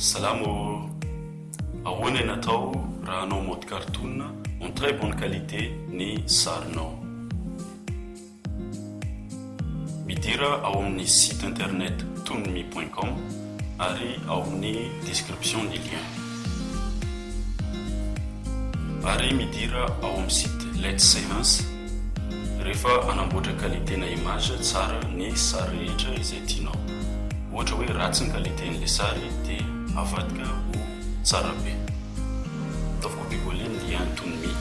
Salama ô! Ahoana ny atao raha hanao mode cartoon en très bonne qualité ny sarinao? Midira ao amin'ny site internet tonmi point com ary ao amin'ny description ny lien. Ary midira ao amin'ny site Let's Seance rehefa hanamboatra qualité na image tsara ny sary rehetra izay tianao. Ohatra hoe ratsy ny qualité-n'ilay sary dia avadika ho tsara be. Ataovy copier coller ny lien toon me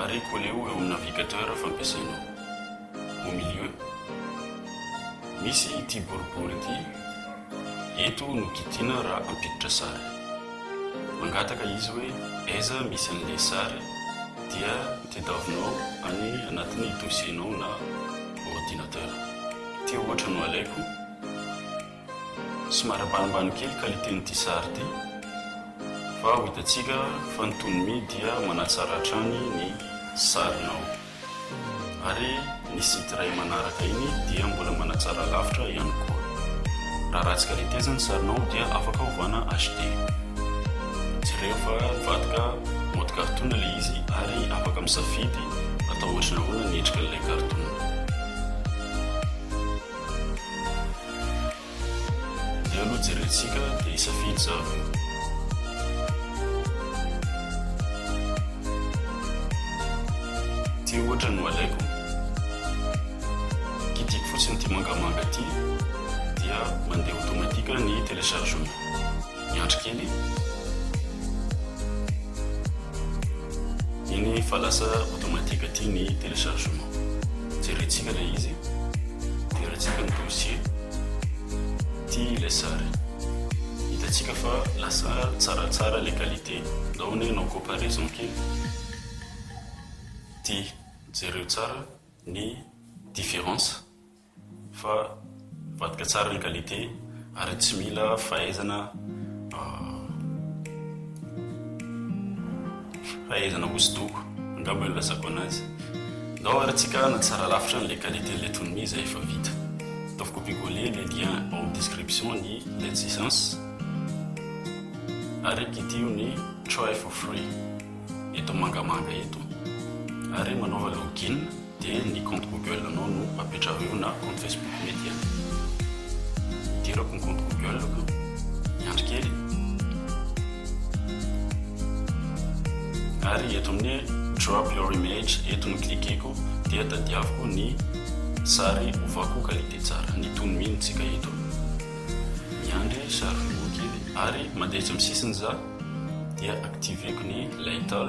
ary colleo eo amin'ny navigateur fampiasainao. au milieu misy ity boribory ity eto no kitina raha ampiditra sary mangataka izy hoe aiza misy an'ilay sary dia tedavonao any anatin'ny dossier-nao na ordinateur ity ohatra no alaiko Somary ambanimbany kely qualité n'ity sary ity fa ho hitantsika fa ny toy ny mi dia manatsara hatrany ny sarinao ary ny site iray manaraka iny dia mbola manatsara lavitra ihany koa raha ratsy qualité aza ny sarinao dia afaka hovana HD jereo fa mivadika mode cartoon ilay izy ary afaka misafidy atao ohatry ny ahoana ny endrika ilay cartoon Inona no hojerentsika dia hisafidy izany? Ity ohatra no alaiko, kitihiko fotsiny ity mangamanga ity dia mandeha automatique ny téléchargement. Miandry kely e. Eny fa lasa automatique aty ny téléchargement. Jerentsika ilay izy e. Deratsika ny dossier. Ity ilay sary. Hitantsika fa lasa tsaratsara ilay qualité. Ndao anie hanao comparaison kely. Ity. Jereo tsara ny différence. fa mivadika tsara ny qualité ary tsy mila fahaizana fahaizana hosodoko angamba no ilazako anazy ndao ary tsika hanatsara lavitra an'ilay qualité an'ilay tonony izay efa vita ataovy copier coller le lien ao amin'ny description ny let's essence ary kitio ny try for free eto mangamanga eto ary manaova login Dia ny compte google anao no apetrareo na compte facebook mety an. Idirako ny compte google ko. Miandry kely. Ary eto amin'ny drop your image eto no cliqueko dia tadiaviko ny sary ovako qualité tsara. Ny tony mino tsika eto. Miandry sary mivoa kely ary mandeha etsy amin'ny sisiny za dia activeko ny lightal.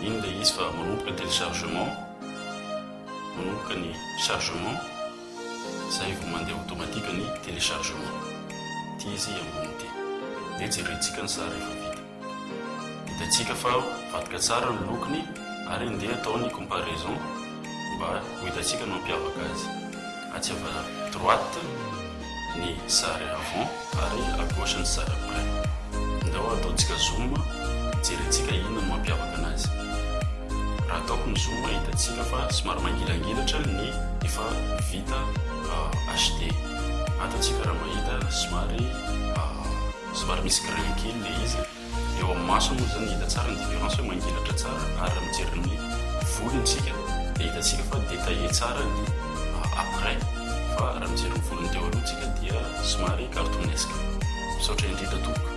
Iny ilay izy fa manomboka téléchargement, manomboka ny chargement, izay vao mandeha automatique ny téléchargement. Ity izy ambony ity. Dia jerentsika ny sary efa vita. Hitantsika fa mivadika tsara ny lokony ary handeha atao ny comparaison mba ho hitantsika ny mampiavaka azy. Atsy avy droite ny sary avant ary à gauche ny sary après. Ndao ataontsika zoom hijerentsika inona no mampiavaka anazy. Raha ataoko ny zoom hitantsika fa somary mangilangilatra ny efa vita HD. Ato antsika raha mahita somary somary misy grain kely ilay izy. Eo amin'ny maso moa izany hita tsara ny différence hoe mangelatra tsara ary raha mijery ny volony isika dia hitantsika fa détaillé tsara ny après fa raha mijery ny volony teo aloha isika dia somary cartoonesque. Misaotra indrindra tompoko.